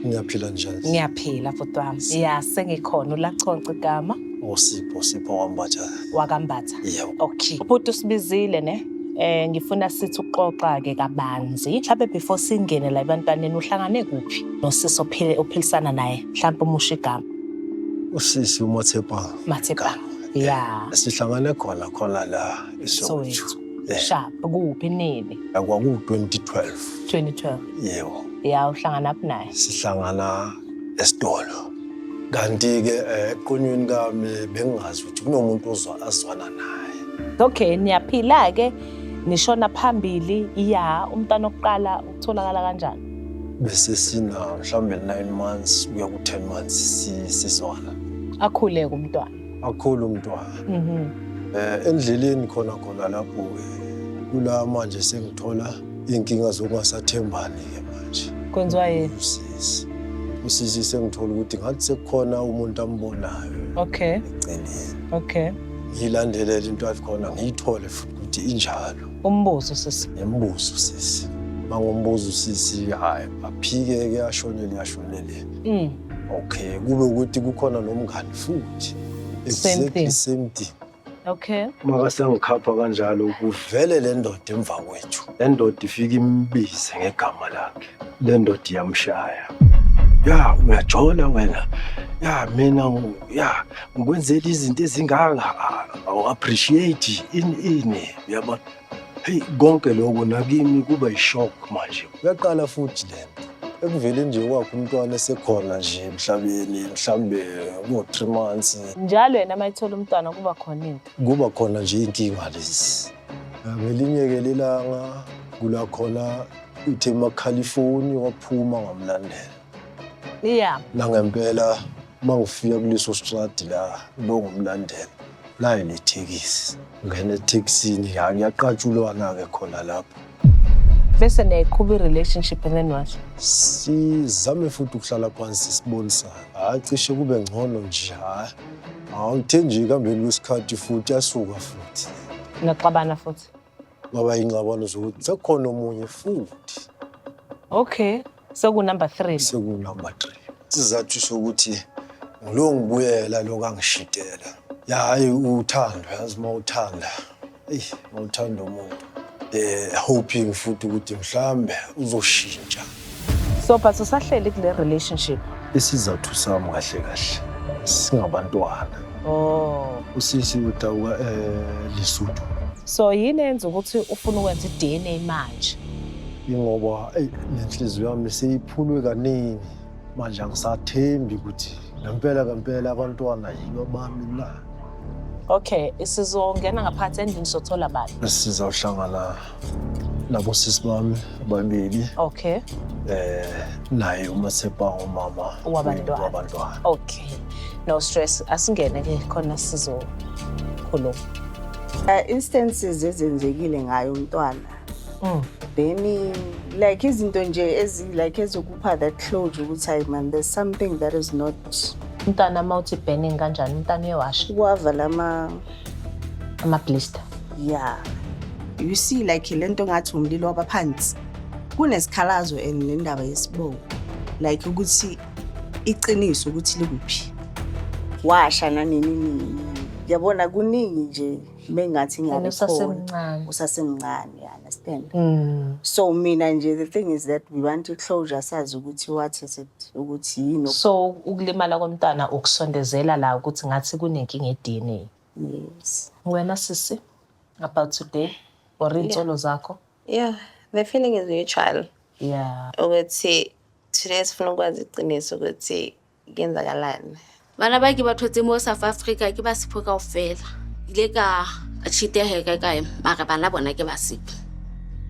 Ngiyaphila njani? Ngiyaphila bhuti wami. Ya sengikhona ulaconca igama. Usipho oh, Sipho wambatha. Wakambatha. Yebo. Okay. Ubhuti usibizile ne? Eh ngifuna sithi uxoxa ke kabanzi. Mhlawumbe before singene la ebantwaneni uhlangane kuphi? Nosisi ophile ophilisana naye. Mhlawumbe umusha igama. Usisi uMathepha. Mathepha. Yeah. Sihlangane khona khona la eSoweto. Sharp kuphi nini? Kwaku 2012. 2012. Yebo. Ya uhlangana phi naye? Sihlangana esitolo. Kanti-ke eh, eqonyweni kami bengingazi ukuthi kunomuntu ozwa azwana naye. Okay, niyaphila-ke nishona phambili ya umntana okuqala utholakala kanjani? Bese sina mhlawumbe 9 months kuya ku-10 months si- sizwana. Akhuleke umntwana. akhulu umntwana mhm. eh endleleni khona khona lapho ke kula manje sengithola inkinga zokungasathembani ke manje kwenziwa yini usisi usisi sengithola ukuthi ngathi sekukhona umuntu ambonayo okay eceleni okay ngiyilandelele into ayikhona ngiyithole futhi ukuthi injalo umbuzo sisi ngimbuzo sisi mangombuzo sisi hayi aphike ke ashonele ashonele Mm. Okay, kube ukuthi kukhona nomngani futhi. Same thing. Same thing. Okay. Maka sengikhapha kanjalo kuvele le ndoda emva kwethu. Le ndoda ifika imbize ngegama lakhe. Le ndoda iyamshaya. Ya, uyajola wena. Ya, mina ya ngikwenzela izinto ezinganga. Awu appreciate ini ini. Uyabona? Hey konke lokho nakimi kuba ishock manje. Uyaqala futhi lento. Ekuvele nje wakho umntwana esekhona nje emhlabeni mhlambe ngo 3 months. Njalo yena mayithola umntwana kuba khona into. Kuba khona nje inkinga lezi. Ngelinye ke lelanga kula khona uthe emakhalifoni waphuma ngamlandela. Yeah. Nangempela uma ngifika kuleso stradi la loku mlandela nayo nethekisi ngene ethekisini yaqatshulwana-ke khona lapho bese niyayiqhuba i-relationship and then what sizame futhi ukuhlala phansi sibonisana hhayi cishe kube ngcono nje hhayi awuthenjeki hambeni kwesikhathi futhi asuka futhi naxabana futhi Ngaba ingxabano zokuthi sekukhona omunye futhi. Okay, seku number 3. Seku number 3. Sizathu sokuthi ngulo ngibuyela lo kangishidela. Ya hayi uthando yazi uma uthanda. Eyi, uma uthanda umuntu. Eh hoping futhi ukuthi mhlambe uzoshintsha. So but usahleli kule relationship? Isizathu sami kahle kahle singabantwana. Oh. Usisi utawuka eh Lesotho. So yini enza ukuthi ufuna ukwenza i-DNA manje? Ingoba eyi nenhliziyo yami seyiphulwe kaningi. Manje angisathembi ukuthi ngempela ngempela abantwana yibo bami na. Okay, sizongena ngaphansi endlini sothola bani? Sizawuhlangana labo sisi bami ababili okay eh naye uma sepa umama wabantwana wabantwana okay no stress asingene ke khona sizokhuluma uh, instances ezenzekile ngayo umntwana mm. then like izinto nje ezi like ezokupha that closure ukuthi hayi man there's something that is not umntana uma uthi burning kanjani umntana uyewasha wavala ama Amablister. Yeah. You see like le nto ngathi umlilo wabaphansi. Kunesikhalazo and nendaba yesibongo. Like ukuthi iqiniso ukuthi likuphi. Washa nanini nini. Yabona kuningi nje mengathi ngiyabe usasemncane. Usasemncane. understand mm. so mina nje the thing is that we want closure sazi ukuthi what is it ukuthi yini so ukulimala komntana ukusondezela la ukuthi ngathi kunenkinga eDNA yes wena sisi about today or insolo zakho yeah the feeling is mutual yeah ukuthi today sifuna ukwazi iqiniso ukuthi kenzakalani bana ba ke ba thotse mo south africa ke ba sepho kao fela ile ka cheateheka kae mara bana bona ke ba sepho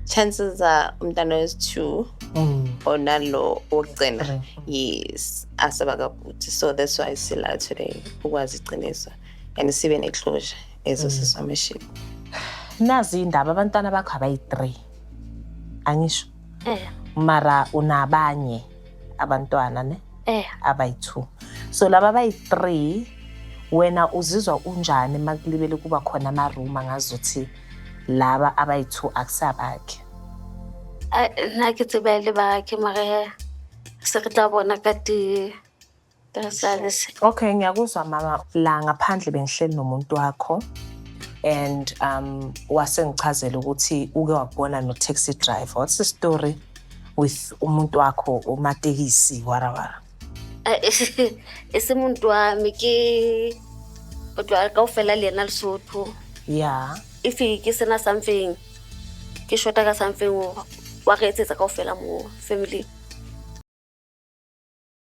chances are umntana wesi-two mm. onalo wokugcina yes aseba kakuthi so that's why sila today ukwazi iqiniso and sibe neclosure ezo mm. sisomeship nazi indaba abantwana bakho abayi-three angisho eh. mara unabanye abantwana ne eh abayi-2 so laba bayi-3 wena uzizwa unjani uma kulibele kuba khona amaruma ngazuthi laba abayi-2 akusabakhe nna ke tsebele bakhe mare se re tla bona ka di Okay, ngiyakuzwa mama la ngaphandle bengihleli nomuntu wakho and um wasengichazela ukuthi uke wabona no taxi driver. What's the story with umuntu wakho umatekisi warawara? Isimuntu wami ke kodwa kaufela lena Lesotho. Yeah. If ke sena something ke shota ka something wa re etsetsa kaufela mo family.